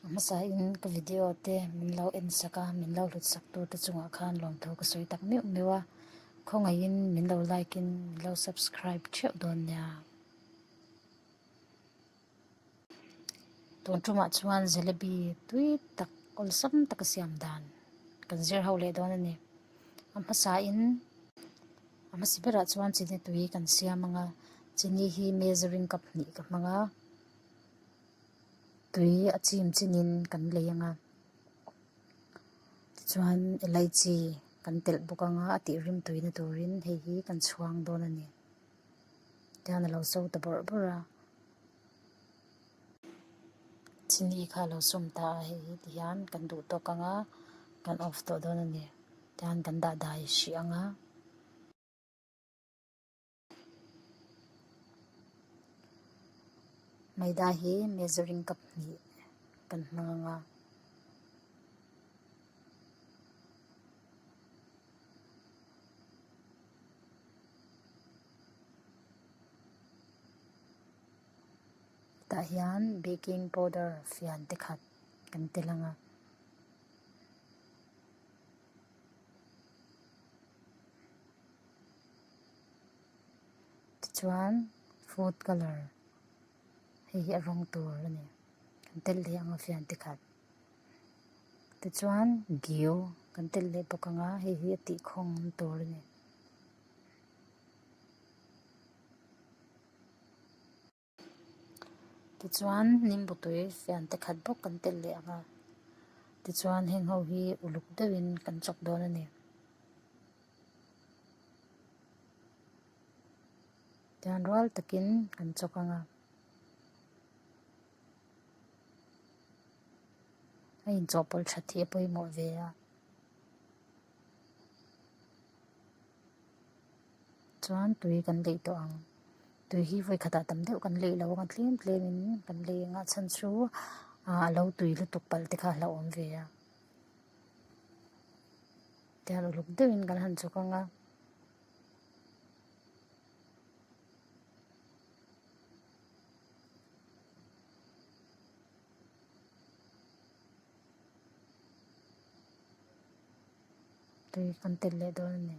Hmasa in ka video te min lo en sak a, min lo hlut sak tur te chungah khan lawmtho ka sawi tak meuh meuh a, khawngaih in min lo like in min lo subscribe theuh dawn nia. Tun tumah chuan jalebi tui tak awlsam tak a siam dan kan zir ho leh dawn a ni. A hmasa in a hmasa berah chuan chini tui kan siam anga, chini hi measuring cup hnih ka hmang a, tui a chim chin in kan lei anga tichuan elaichi kan telh bawk anga a tih rim tui na turin hei hi kan chhuang dawn a ni tichuan a lo chho ta bawrh bawrh a chini kha a lo sum ta a hei hi ti hian kan duh tawk anga kan off tawh dawn a ni tichuan kan dah dai hrih anga. Maida hi measuring cup hnih kan hmang ang a. Tah hian baking powder fian te khat kan tel ang a. tichuan food colour hei hi a rawng tur a ni kan tel leh ang a fian te khat tichuan giu kan tel leh bawk ang a hei hi a tih khawng awm tur a ni. Tichuan Nimbutui fiante khat bawk kan tel leh ang a, tichuan heng ho hi uluk deuhin kan chawp dawn a ni. Tichuan rual takin kan chawk ang a. A inchawhpawlh tha thih a pawimawh ve a. chuan tui kan lei tawh ang tui hi vawikhatah tam deuh kan lei lo ang a tlem tlem in kan lei ang a a chhan chu ah a lo tui lutuk palh te kha a hla awm ve a tihian uluk deuh in kan han chawk ang a. Tui kan telh leh dawn a ni.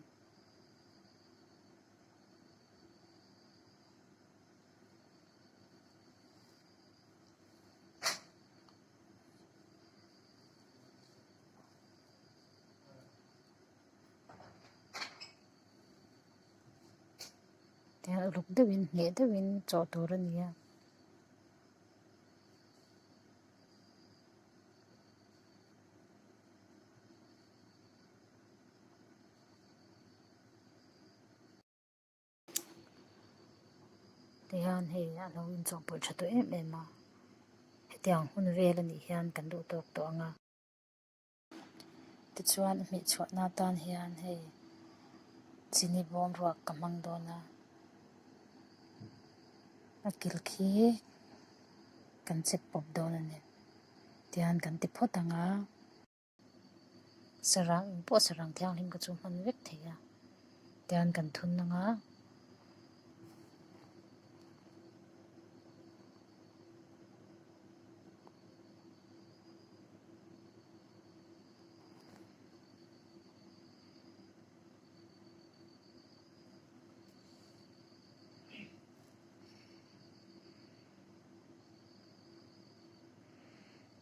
Tihian uluk deuhin hneh deuhin chawh tur a ni a. Ti hian hei a lo inchawhpawlh tha tawh em em a hetiang hun vel a nih hian kan duh tawk tawh ang a. Tichuan a hmeh chhuahna atan hian hei chini bawm ruak ka hmang dawn a, a kil khi kan chep pawp dawn a ni tian kan ti phawt ang a, sarang in pawh sarang thianghlim ka chu a hman vek thei a tian kan thun ang a.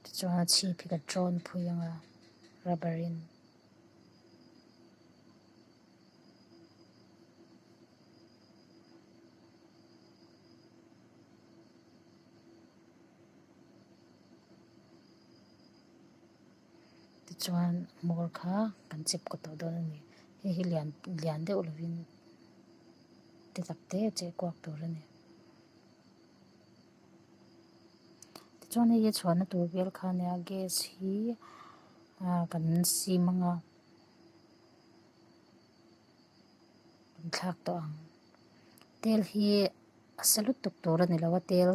Tichuan a chhip hi ka ṭawn phui ang a rubber in. Tichuan motor kha kan chep kaw tawh dawn a ni hei hi lian lian deuh lovin ti tak te che kuak tur a ni tichuan hei hi chhuahna tur vel kha nia gas hi ahh kan sim anga. thlak tawh ang tel hi a sa lutuk tur a ni lo a tel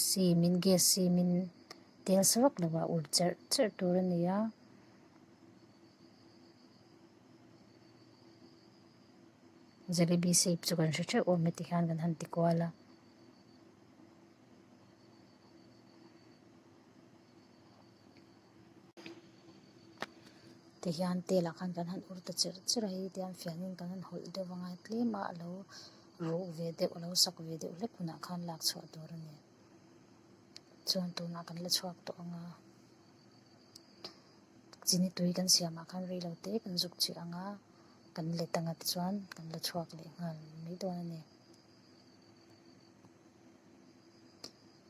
simin gas simin tel sa vak lova ur cherh cherh tur a ni a jalebi shape chu kan hre theuh awm e ti hian kan han ti kual a. te hian tel ah khan kan han ur ta cher cher a hei te hian fian in kan han hawlh deuh angai tlem a a lo ruh ve deuh a lo sak ve deuh hlek hunah khan lak chhuah tur a ni chuan tunah kan la chhuak tawh ang a chi ni tui kan siam ah khan rei lo te kan zuk che ang a kan let anga te chuan kan la chhuak leh nghal mai dawn a ni.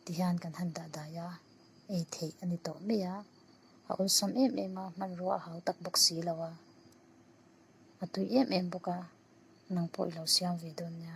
Ti hian kan han dah dai a, ei theih a ni tawh mai a, a awlsam em em a, hmanrua a hau tak bawk si lo a, a tui em em bawk a, nang pawh i lo siam ve dawn nia.